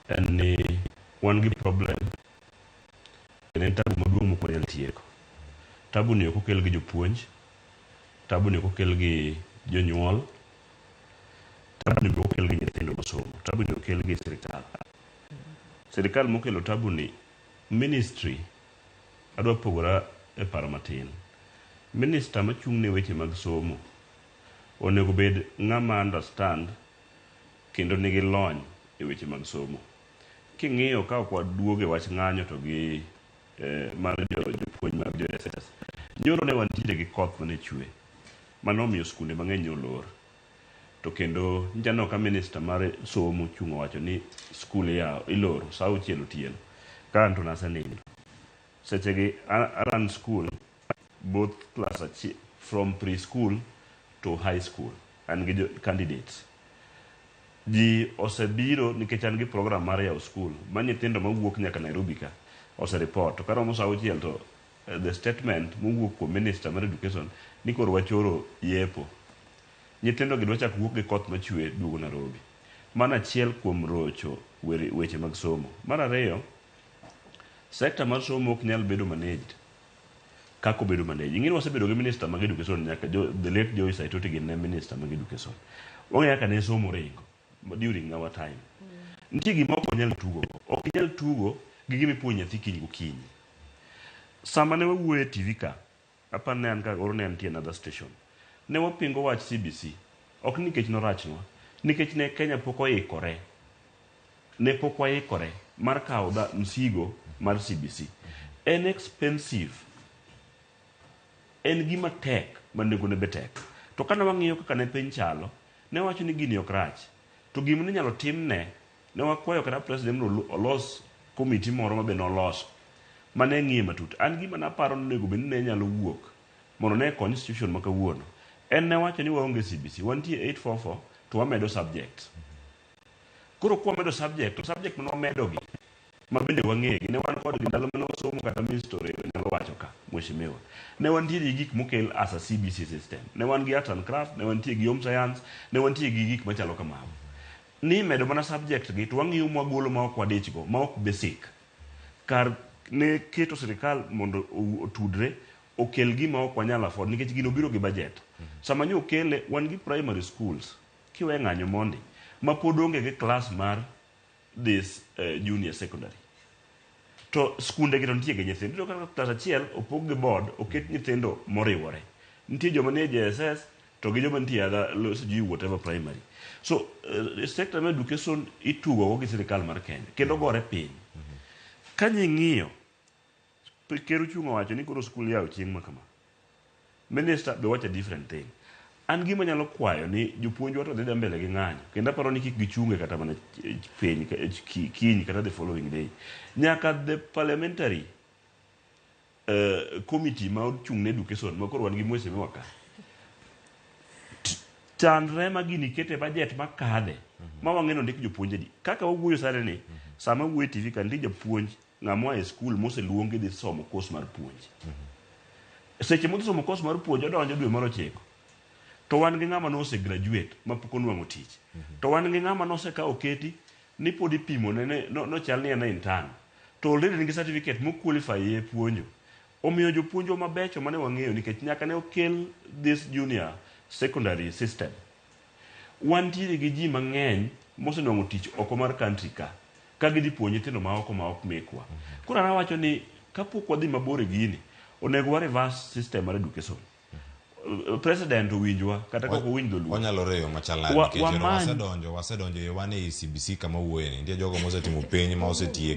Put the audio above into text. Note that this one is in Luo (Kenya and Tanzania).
en ni wan gi problem kendo en tabu maduong' mok wanyal tieko. Tabu ni ok okel gi jopuonj, tabu ni ok okel gi jonyuol, tabu ni be ok okel gi nyithindo masomo, tabu ni okel gi sirikal. Sirikal mokelo tabu ni ministry adwa pogora e paro matin. Minister machung' ne weche mag somo onego bed ng'ama understand kendo nigi lony e weche mag somo. King'iyo ka ok waduog e wach ng'anyo to gi mar jopuonj mag jo SHS, nyoro ne wantiere gi koth mane chwe mane omiyo skunde mang'eny ne olor to kendo nyicha aneno ka minister mar somo ochung' owacho ni skul iyawo iloro sa auchiel otieno ka anto nasenindo. Sechegi a run skul both class achiel from preschool to high school an gi candidates ji osebiro nikech an gi program mar yawo school ma nyithindo mawuok nyaka Nairobi ka osereport to karomo sa auchiel to eh, the statement mowuok kuom minister mar education ni koro wachoro yepo nyithindo gi dwachak wuok gi koth machwe duogo Nairobi mano achiel kuom rocho weche mag somo mar ariyo sekta mar somo ok nyal bedo managed Kaka obedo manager. Ing'eni wasebedo gi minister mag education nyaka jo, the late Joy Saitoti gin ne minister mag education. Wang'eyo kaka ne somo ringo during our time. Nitie gima ok wanyal tugo go. Ok inyal tugo gi gima ipuonjo nyathi kiny gokinyi. Sama ne wawuoyo e TV ka, aparo ne an ka oro ne antie another station. Ne wapingo wach CBC. Ok nikech norachnwa, nikech ne Kenya pok oikore. Ne pok waikore mar kawo dha msigo mar CBC. En expensive. En gima tek ma nengo ne be tek. To kane wang'iyo kaka ne piny chalo, ne wawacho ni gini ok rach. To gima ne inyalo timne, ne wakwayo kata President mondo olos committee moro ma be noloso ma ne ng'iye matut. An gima ne aparo ni onego bed ni ne nyalo wuok mondo ne kony institution ma kawuono en ne wacho ni waonge CBC, wantie 8-4-4 to wamedo subjects. Koro kwa medo subject, to subject mane wamedo gi, ma bende wang'egi, ne wan kodgi ndalo mane wasomo kata mystery nyalo wacho ka, mheshimiwa. Ne wantie gi gik mokel as a CBC system. Ne wan gi arts and craft, ne wantie gi home science, ne wantie gi gik machalo kamago. Nimedo mana subject gi to wang'iyo ma wagolo ma ok wadich go, ma ok basic. Kar ne keto sirikal mondo otudre, okel gima ok wanyal afford nikech gino biro gi budget. Sama nyo okele, wan gi primary schools, Kiwe ng'anyo mondi ma pod onge gi klas mar dhi eh, junior secondary to skunde gi to nitie gi nyithindo iyudo kaka klas achiel opog gi board oket nyithindo moriwore nitie joma nie JSS to gi joma nitie adha lo- sijui whatever primary so uh, sector mar education itugogo gi sirikal mar Kenya kendo gore piny ka nying'iyo Ker ochung' owacho ni koro skul yawo chieng' ma kama. Minister be owacho a different thing. An gima anyalo kwayo ni jopuonjwa to dhi dhi mbele gi ng'anyo kendo aparo ni kik gichunge kata mana piny kiny kata the following day. Nyaka the parliamentary uh, committee ma ochung' ne education ma koro wan gi mheshimiwa ka chandre ma gini kete budget ma kadhe ma wang'e ni ondik jopuonj adi. Kaka wawuoyo sani ni sama wuoyo e TV ka nitie japuonj Ng'a moa e skul moseluongi dhi somo kos mar puonj. Seche modhi somo kos mar puonj odonjo dwe mar ochiko. To wan gi ng'ama nose graduate ma pok onwang'o tich. To wan gi ng'ama nose ka oketi ni pod ipimone ni nochal ni en e intern. To already en gi certificate mo qualify ye puonjo. Omiyo jopuonjwa mabecho mane wang'eyo nikech nyaka ne okel this junior secondary system. Wantiere gi ji mang'eny mosenwang'o tich oko mar country ka, ka gidhi puonjo nyithindo ma oko ma ok mekwa. Koro an awacho ni kapok wadhi mabor e gini, onego wa reverse system mar education. President owinjwa kata kaok owinj dholuo. Wanyalo reye e yo machal nade Wa- nikech ero wamany- wasedonjo wasedonjo e yo wan ei CBC kama wawuoye ni. Nitie jogo mosetimo penj ma osetiek